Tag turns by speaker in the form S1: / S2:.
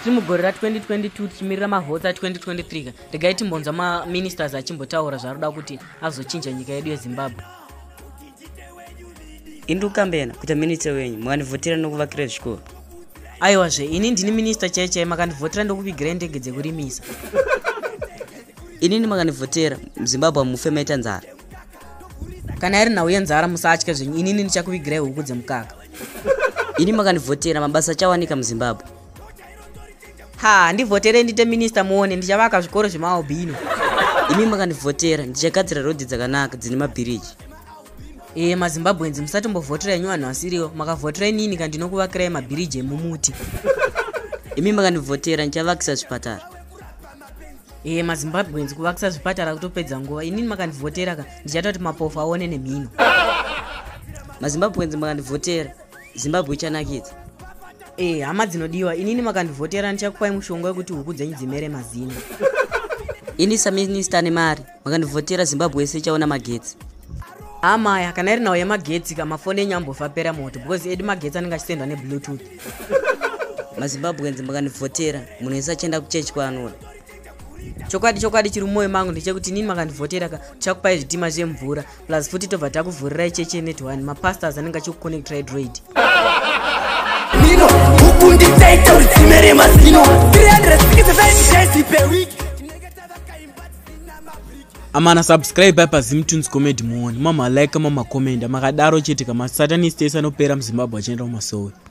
S1: tiri mugore ra 2022 tichimirira mavhotsi a 2023 ka regai timbonzwa maministers achimbotaura zvaari kuda kuti azochinja nyika yedu yezimbabwe
S2: indi ukambena kuita minista wenyu mukandivhotera nokuvakira zvikoro aiwa zve
S1: ini ndini minista chai chai makandivhotera ndokuvigirai ndege dzekurimisa
S2: inini makandivhotera muzimbabwe mufe maita nzara
S1: kana iri nhau yenzara musatya zvenyu inini ndichakuvigirai huku dzemukaka ini
S2: makandivhotera mabasa achawanika muzimbabwe ha
S1: ndivhotere ndiite minista muone ndichavaka zvikoro zvemaalbino imi
S2: makandivhotera ndichagadzira rodhi dzakanaka dzine mabhiriji e eh,
S1: mazimbabweans musatombovhotera inyu vanhu vasiriwo makavhotera inini kandinokuvakirai mabhiriji emumuti
S2: imi makandivhotera ndichavakisa zvipatara e eh, mazimbabweans
S1: kuvakisa zvipatara kutopedza nguva inini makandivhotera ka ndichatoti mapofu aone nemhino
S2: mazimbabweans makandivhotera zimbabwe ichanakidza e hama
S1: dzinodiwa inini makandivhotera ndichakupai mushonga wekuti huku dzenyu dzimere mazino
S2: ini saminista ane mari makandivhotera zimbabwe yese ichaona magetsi amaya
S1: kana iri nhau yemagetsi ka mafoni enyu ambofa pera moto because edi magetsi anenge achisendwa nebluetooth
S2: mazimbabwenzi makandivhotera munhu wese achienda kuchechi kwaanoda chokwadi
S1: chokwadi chiri mumoyo mangu ndechekuti inini makandivhotera ka chakupai zvitima zvemvura plus futi tobva takuvhurira icheche net one mapastors anenge achikuconnectra idroid
S3: mino huku nditaita rudzime remazino 365 per week
S4: amana subscribe apa zimtunes comedy muone mama like mama commenda makadaro chete kama satanist ese anopera muzimbabwe achienda kumasowe